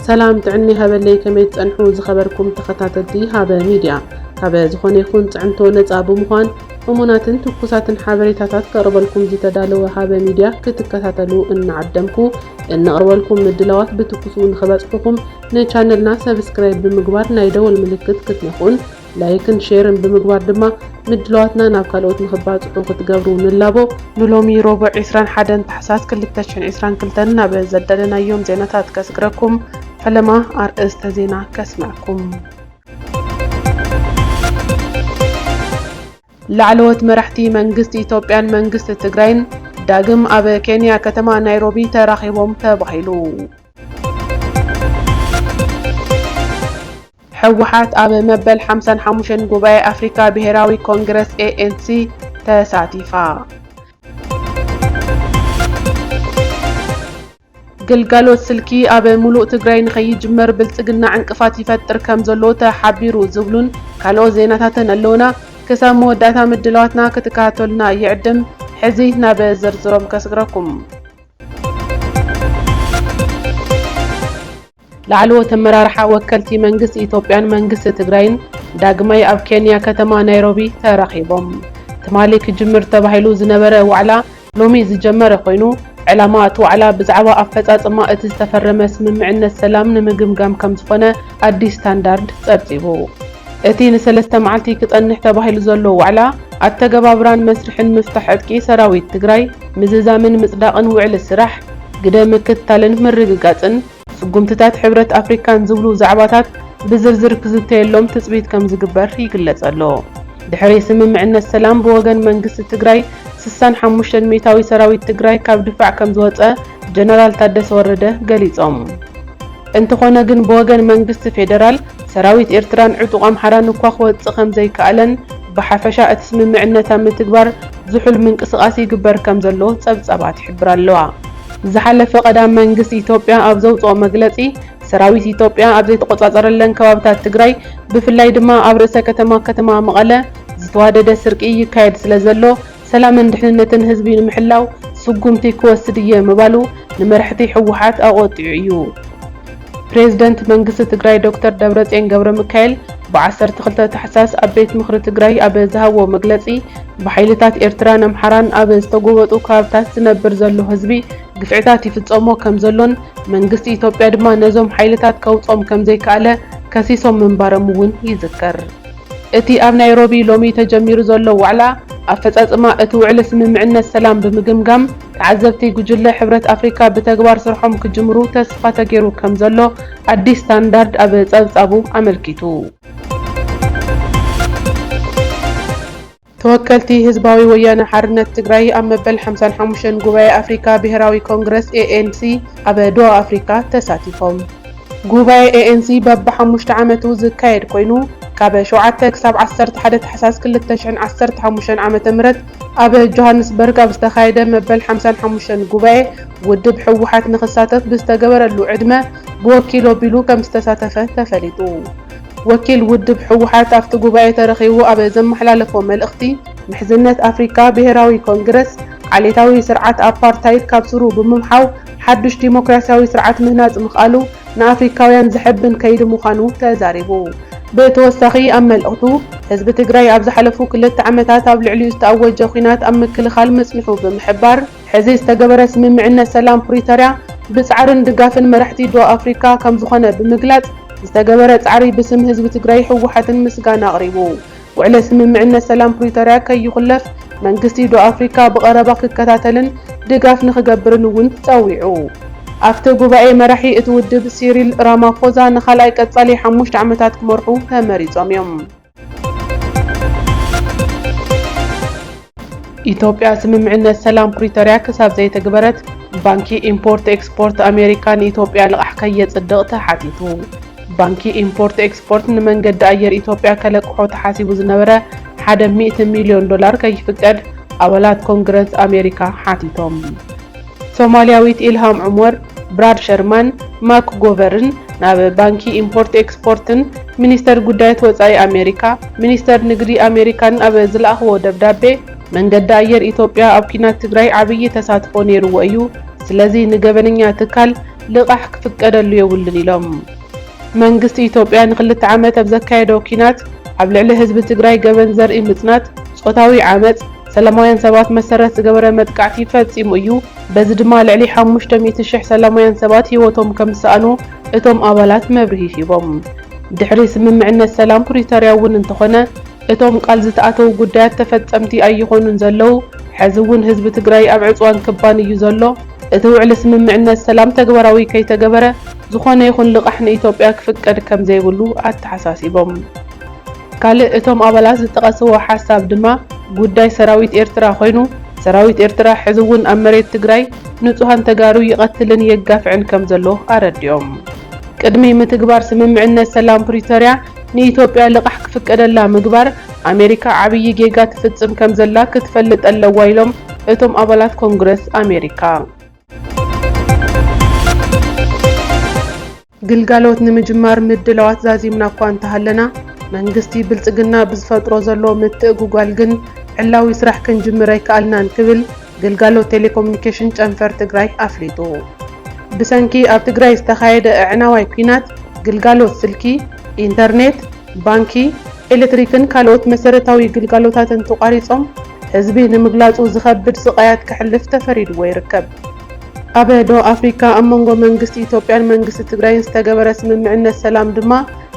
ሰላም ጥዕና ይሃበለይ ከመይ ትጸንሑ ዝኸበርኩም ተኸታተልቲ ሃበ ሚድያ ካበ ዝኾነ ይኹን ጽዕንቶ ነጻ ብምዃን እሙናትን ትኩሳትን ሓበሬታታት ከቕርበልኩም ዝተዳለወ ሃበ ሚድያ ክትከታተሉ እናዓደምኩ እንቕርበልኩም ምድላዋት ብትኩሱ ንኽበጽሑኹም ንቻነልና ሰብስክራይብ ብምግባር ናይ ደወል ምልክት ክትነኹን ላይክን ሼርን ብምግባር ድማ ምድላዋትና ናብ ካልኦት ንኽባፅሑ ክትገብሩ ንላቦ። ንሎሚ ሮቡዕ ዕስራን ሓደን ታሕሳስ ክልተ ሽሕን ዕስራን ክልተን ናብ ዘዳለናዮም ዜናታት ከስግረኩም፣ ፈለማ ኣርእስተ ዜና ከስመዐኩም። ላዕለዎት መራሕቲ መንግስቲ ኢትዮጵያን መንግስቲ ትግራይን ዳግም ኣብ ኬንያ ከተማ ናይሮቢ ተራኺቦም ተባሂሉ። ህወሓት ኣብ መበል ሓምሳን ሓሙሽተን ጉባኤ ኣፍሪካ ብሄራዊ ኮንግረስ ኤኤንሲ ተሳቲፋ። ግልጋሎት ስልኪ ኣብ ሙሉእ ትግራይ ንከይጅመር ብልፅግና ዕንቅፋት ይፈጥር ከምዘሎ ተሓቢሩ ዝብሉን ካልኦት ዜናታትን ኣለውና። ክሳብ መወዳእታ ምድላዋትና ክትከታተሉና ይዕድም። ሕዚ ናብ ዝርዝሮም ከስግረኩም። ላዕለዎት ኣመራርሓ ወከልቲ መንግስቲ ኢትዮጵያን መንግስቲ ትግራይን ዳግማይ ኣብ ኬንያ ከተማ ናይሮቢ ተራኺቦም። ትማሊ ክጅምር ተባሂሉ ዝነበረ ዋዕላ ሎሚ ዝጀመረ ኮይኑ፣ ዕላማ እቲ ዋዕላ ብዛዕባ ኣፈፃፅማ እቲ ዝተፈረመ ስምምዕነት ሰላም ንምግምጋም ከምዝኾነ ኣዲስ ስታንዳርድ ፀብፂቡ። እቲ ንሰለስተ መዓልቲ ክፀንሕ ተባሂሉ ዘሎ ዋዕላ ኣተገባብራን መስርሕን ምፍታሕ ዕጥቂ ሰራዊት ትግራይ ምዝዛምን ምፅዳቕን ውዕሊ ስራሕ፣ ግደ ምክትታልን ምርግጋፅን፣ ስጉምትታት ሕብረት ኣፍሪካን ዝብሉ ዛዕባታት ብዝርዝር ክዝተየሎም ትፅቢት ከምዝግበር ይግለፅ ኣሎ። ድሕሪ ስምምዕነት ሰላም ብወገን መንግስቲ ትግራይ ስሳን ሓሙሽተን ሚእታዊ ሰራዊት ትግራይ ካብ ድፋዕ ከምዝወፀ ጀነራል ታደሰ ወረደ ገሊፆም። እንተኾነ ግን ብወገን መንግስቲ ፌደራል፣ ሰራዊት ኤርትራን ዕጡቕ ኣምሓራን እኳ ክወጽእ ከምዘይከኣለን፣ ብሓፈሻ እቲ ስምምዕነት ኣብ ምትግባር ዝሑል ምንቅስቓስ ይግበር ከምዘሎ ጸብጻባት ይሕብራ ኣለዋ። ዝሓለፈ ቀዳም መንግስቲ ኢትዮጵያ ኣብ ዘውጽኦ መግለጺ፣ ሰራዊት ኢትዮጵያ ኣብ ዘይተቖጻጸረለን ከባብታት ትግራይ፣ ብፍላይ ድማ ኣብ ርእሰ ከተማ ከተማ መቐለ፣ ዝተዋደደ ስርቂ ይካየድ ስለዘሎ፣ ሰላምን ድሕንነትን ህዝቢ ንምሕላው ስጉምቲ ክወስድ እየ ምባሉ ንመራሕቲ ህወሓት ኣቖጢዑ እዩ። ፕሬዝደንት መንግስቲ ትግራይ ዶክተር ደብረፅዮን ገብረሚካኤል ብ ዓሰርተ ክልተ ታሕሳስ ኣብ ቤት ምኽሪ ትግራይ ኣብ ዝሃብዎ መግለፂ ብሓይልታት ኤርትራን ኣምሓራን ኣብ ዝተጎበጡ ከባብታት ዝነብር ዘሎ ህዝቢ ግፍዕታት ይፍፀሞ ከምዘሎን መንግስቲ ኢትዮጵያ ድማ ነዞም ሓይልታት ከውፅኦም ከምዘይከኣለ ከሲሶም ምንባሮም እውን ይዝከር። እቲ ኣብ ናይሮቢ ሎሚ ተጀሚሩ ዘሎ ዋዕላ፣ ኣፈፃፅማ እቲ ውዕሊ ስምምዕነት ሰላም ብምግምጋም ተዓዘብቲ ጉጅለ ሕብረት ኣፍሪካ ብተግባር ስርሖም ክጅምሩ ተስፋ ተገይሩ ከምዘሎ ኣዲስ ስታንዳርድ ኣብ ፀብፃቡ ኣመልኪቱ። ተወከልቲ ህዝባዊ ወያነ ሓርነት ትግራይ ኣብ መበል ሓምሳን ሓሙሽተን ጉባኤ ኣፍሪካ ብሄራዊ ኮንግረስ፣ ኤኤንሲ፣ ኣብ ዶሃ ኣፍሪካ ተሳቲፎም። ጉባኤ ኤኤንሲ በቢ ሓሙሽተ ዓመቱ ዝካየድ ኮይኑ ካብ ሸውዓተ ክሳብ ዓሰርተ ሓደ ታሕሳስ ክልተ ሽሕን ዓሰርተ ሓሙሽተን ዓመተ ምህረት ኣብ ጆሃንስበርግ ኣብ ዝተኻየደ መበል ሓምሳን ሓሙሽተን ጉባኤ ውድብ ህወሓት ንክሳተፍ ብዝተገበረሉ ዕድመ ብወኪል ኣቢሉ ከምዝተሳተፈ ተፈሊጡ። ወኪል ውድብ ህወሓት ኣብቲ ጉባኤ ተረኺቡ ኣብ ዘመሓላለፎ መልእኽቲ፣ ምሕዝነት ኣፍሪካ ብሄራዊ ኮንግረስ ዓሌታዊ ስርዓት ኣፓርታይድ ካብ ሱሩ ብምምሓው ሓዱሽ ዲሞክራሲያዊ ስርዓት ምህናፅ ምኽኣሉ ንኣፍሪካውያን ዘሐብን ከይዲ ምዃኑ ተዛሪቡ። ብተወሳኺ ኣብ መልእኽቱ፣ ህዝቢ ትግራይ ኣብ ዝሓለፉ ክልተ ዓመታት ኣብ ልዕሊኡ ዝተኣወጀ ኲናት ኣብ ምክልኻል ምፅንሑ ብምሕባር፣ ሕዚ ዝተገበረ ስምምዕነት ሰላም ፕሪተርያ ብፃዕርን ድጋፍን መራሕቲ ዶብ ኣፍሪካ ከምዝኾነ ብምግላፅ ዝተገበረ ፃዕሪ ብስም ህዝቢ ትግራይ ህወሓትን ምስጋና ኣቕሪቡ። ውዕለ ስምምዕነት ሰላም ፕሪተርያ ከይኹለፍ መንግስቲ ዶብ ኣፍሪካ ብቐረባ ክከታተልን ድጋፍ ንክገብርን እውን ፀዊዑ። ኣፍቲ ጉባኤ መራሒ እቲ ውድብ ሲሪል ራማፎዛ ንካልኣይ ቀፃሊ ሓሙሽተ ዓመታት ክመርሑ ተመሪፆም እዮም። ኢትዮጵያ ስምምዕነት ሰላም ፕሪቶርያ ክሳብ ዘይተግበረት ባንኪ ኢምፖርት ኤክስፖርት ኣሜሪካ ንኢትዮጵያ ልቓሕ ከየፅድቕ ተሓቲቱ። ባንኪ ኢምፖርት ኤክስፖርት ንመንገዲ ኣየር ኢትዮጵያ ከለቅሖ ተሓሲቡ ዝነበረ ሓደ ሚእቲ ሚልዮን ዶላር ከይፍቀድ ኣባላት ኮንግረስ ኣሜሪካ ሓቲቶም። ሶማልያዊት ኢልሃም ዑመር፣ ብራድ ሸርማን ማክጎቨርን ናብ ባንኪ ኢምፖርት ኤክስፖርትን ሚኒስተር ጉዳያት ወጻኢ ኣሜሪካ ሚኒስተር ንግዲ ኣሜሪካን ኣብ ዝለኣኽዎ ደብዳቤ፣ መንገዲ ኣየር ኢትዮጵያ ኣብ ኲናት ትግራይ ዓብዪ ተሳትፎ ነይርዎ እዩ፣ ስለዚ ንገበነኛ ትካል ልቓሕ ክፍቀደሉ የብሉን ኢሎም። መንግስቲ ኢትዮጵያ ንክልተ ዓመት ኣብ ዘካየዶ ኲናት ኣብ ልዕሊ ህዝቢ ትግራይ ገበን ዘርኢ ምጽናት፣ ጾታዊ ዓመጽ፣ ሰላማውያን ሰባት መሰረት ዝገበረ መጥቃዕቲ ፈጺሙ እዩ፣ በዚ ድማ ልዕሊ ሓሙሽተ ሚእቲ ሽሕ ሰላማውያን ሰባት ህይወቶም ከም ዝሰኣኑ እቶም ኣባላት መብርሂ ሂቦም። ድሕሪ ስምምዕነት ሰላም ፕሪቶርያ እውን እንተኾነ እቶም ቃል ዝተኣተዉ ጉዳያት ተፈፀምቲ ኣይኾኑን ዘለዉ፣ ሐዚ እውን ህዝቢ ትግራይ ኣብ ዕፅዋን ክባን እዩ ዘሎ፣ እቲ ውዕሊ ስምምዕነት ሰላም ተግባራዊ ከይተገበረ ዝኾነ ይኹን ልቓሕ ንኢትዮጵያ ክፍቀድ ከም ዘይብሉ ኣተሓሳሲቦም። ካልእ እቶም ኣባላት ዝጠቐስዎ ሓሳብ ድማ ጉዳይ ሰራዊት ኤርትራ ኮይኑ፣ ሰራዊት ኤርትራ ሕዚ እውን ኣብ መሬት ትግራይ ንፁሃን ተጋሩ ይቐትልን የጋፍዕን ከምዘሎ ኣረዲኦም። ቅድሚ ምትግባር ስምምዕነት ሰላም ፕሪቶርያ ንኢትዮጵያ ልቓሕ ክፍቀደላ ምግባር፣ ኣሜሪካ ዓብዪ ጌጋ ትፍፅም ከምዘላ ክትፈልጥ ኣለዋ ኢሎም እቶም ኣባላት ኮንግረስ ኣሜሪካ። ግልጋሎት ንምጅማር ምድላዋት ዛዚምና እኳ እንተሃለና፣ መንግስቲ ብልፅግና ብዝፈጥሮ ዘሎ ምትእጉጓል ግን ዕላዊ ስራሕ ክንጅምር ኣይከኣልናን ክብል ግልጋሎት ቴሌኮሙኒኬሽን ጨንፈር ትግራይ ኣፍሊጡ። ብሰንኪ ኣብ ትግራይ ዝተኻየደ ኣዕናዋይ ኲናት ግልጋሎት ስልኪ፣ ኢንተርኔት፣ ባንኪ፣ ኤሌክትሪክን ካልኦት መሰረታዊ ግልጋሎታትን ተቋሪፆም ህዝቢ ንምግላፁ ዝኸብድ ስቓያት ከሕልፍ ተፈሪድዎ ይርከብ። ኣብ ደቡብ ኣፍሪካ ኣብ መንጎ መንግስቲ ኢትዮጵያን መንግስቲ ትግራይን ዝተገበረ ስምምዕነት ሰላም ድማ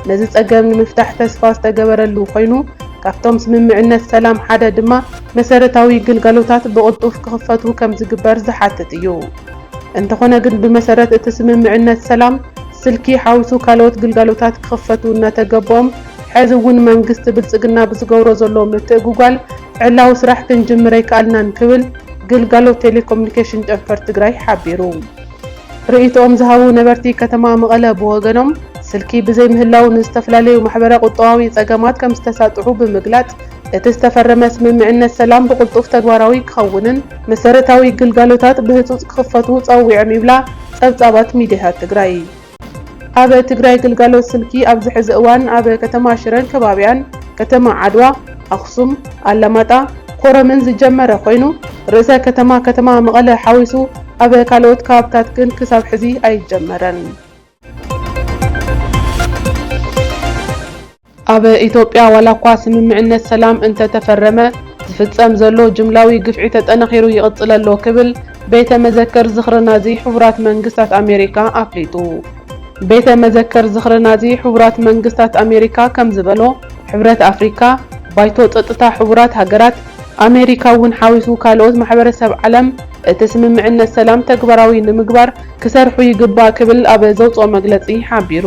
ነዚ ፀገም ንምፍታሕ ተስፋ ዝተገበረሉ ኮይኑ ካብቶም ስምምዕነት ሰላም ሓደ ድማ መሰረታዊ ግልጋሎታት ብቕልጡፍ ክኽፈቱ ከምዝግበር ዝሓትት እዩ። እንተኾነ ግን ብመሰረት እቲ ስምምዕነት ሰላም ስልኪ ሓዊሱ ካልኦት ግልጋሎታት ክኽፈቱ እናተገበኦም ሐዚ እውን መንግስቲ ብልፅግና ብዝገብሮ ዘሎ ምትእጉጓል ዕላዊ ስራሕ ክንጅምር ኣይከኣልናን ክብል ግልጋሎት ቴሌኮሙኒኬሽን ጨንፈር ትግራይ ሓቢሩ። ርእይትኦም ዝሃቡ ነበርቲ ከተማ መቐለ ብወገኖም፣ ስልኪ ብዘይምህላዉ ንዝተፈላለዩ ማሕበረ-ቁጠባዊ ፀገማት ከምዝተሳጥሑ ብምግላፅ፣ እቲ ዝተፈረመ ስምምዕነት ሰላም ብቕልጡፍ ተግባራዊ ክኸውንን መሰረታዊ ግልጋሎታት ብህፁፅ ክኽፈቱ ፀዊዖም ይብላ ፀብፃባት ሚዲያታት ትግራይ። ኣብ ትግራይ ግልጋሎት ስልኪ ኣብዚ ሕዚ እዋን ኣብ ከተማ ሽረን ከባቢኣን፣ ከተማ ዓድዋ፣ ኣኽሱም፣ ኣላማጣ፣ ኮረምን ዝጀመረ ኮይኑ ርእሰ ከተማ ከተማ መቐለ ሓዊሱ ኣብ ካልኦት ከባብታት ግን ክሳብ ሕዚ ኣይጀመረን። ኣብ ኢትዮጵያ ዋላኳ ስምምዕነት ሰላም እንተተፈረመ ዝፍፀም ዘሎ ጅምላዊ ግፍዒ ተጠናኺሩ ይቕፅል ኣሎ ክብል ቤተ መዘክር ዝኽሪ ናዚ ሕቡራት መንግስታት ኣሜሪካ ኣፍሊጡ። ቤተ መዘክር ዝኽሪ ናዚ ሕቡራት መንግስታት ኣሜሪካ ከምዝበሎ ሕብረት ኣፍሪካ፣ ባይቶ ፀጥታ ሕቡራት ሃገራት፣ ኣሜሪካ እውን ሓዊሱ ካልኦት ማሕበረሰብ ዓለም እቲ ስምምዕነት ሰላም ተግባራዊ ንምግባር ክሰርሑ ይግባእ ክብል ኣብ ዘውፅኦ መግለፂ ሓቢሩ።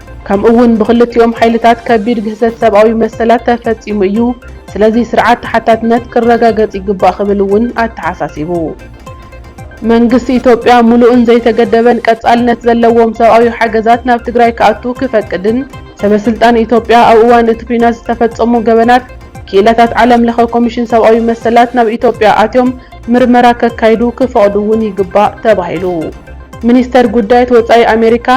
ከምኡ እውን ብክልቲኦም ሓይልታት ከቢድ ግህሰት ሰብኣዊ መሰላት ተፈፂሙ እዩ፣ ስለዚ ስርዓት ተሓታትነት ክረጋገፅ ይግባእ ክብል እውን ኣተሓሳሲቡ። መንግስቲ ኢትዮጵያ ሙሉእን ዘይተገደበን ቀፃልነት ዘለዎም ሰብኣዊ ሓገዛት ናብ ትግራይ ክኣቱ ክፈቅድን ሰበ ስልጣን ኢትዮጵያ ኣብ እዋን እቲ ኲናት ዝተፈፀሙ ገበናት ክኢላታት ዓለም ለኸ ኮሚሽን ሰብኣዊ መሰላት ናብ ኢትዮጵያ ኣትዮም ምርመራ ከካይዱ ክፈቕዱ እውን ይግባእ ተባሂሉ። ሚኒስተር ጉዳያት ወጻኢ ኣሜሪካ፣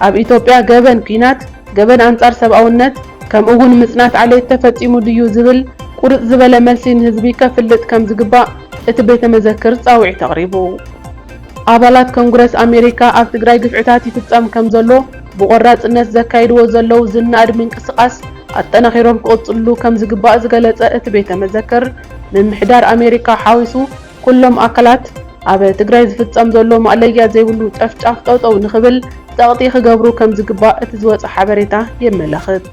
ኣብ ኢትዮጵያ ገበን ኲናት፣ ገበን ኣንጻር ሰብኣውነት፣ ከምኡ'ውን ምጽናት ዓሌት ተፈጺሙ ድዩ ዝብል ቁርጽ ዝበለ መልሲ ንህዝቢ ከፍልጥ ከም ዝግባእ እቲ ቤተ መዘክር ጻውዒት ኣቕሪቡ። ኣባላት ኮንግረስ ኣሜሪካ ኣብ ትግራይ ግፍዕታት ይፍጸም ከም ዘሎ ብቖራጽነት ዘካይድዎ ዘለዉ ዝነኣድ ምንቅስቓስ ኣጠናኺሮም ክቕጽልሉ ከም ዝግባእ ዝገለጸ እቲ ቤተ መዘክር፣ ምምሕዳር ኣሜሪካ ሓዊሱ ኩሎም ኣካላት ኣብ ትግራይ ዝፍፀም ዘሎ ማእለያ ዘይብሉ ጨፍጫፍ ጠውጠው ንኽብል ፀቕጢ ክገብሩ ከምዝግባእ እቲ ዝወፀ ሓበሬታ የመላኽት።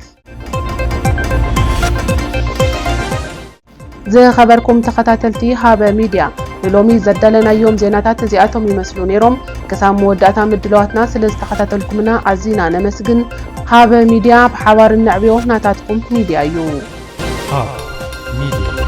ዝኸበርኩም ተኸታተልቲ ሃበ ሚድያ ንሎሚ ዘዳለናዮም ዜናታት እዚኣቶም ይመስሉ ነይሮም። ክሳብ መወዳእታ ምድላዋትና ስለ ዝተኸታተልኩምና ኣዚና ነመስግን። ሃበ ሚድያ፣ ብሓባር እነዕብዮ ናታትኩም ሚድያ እዩ። Hub Media.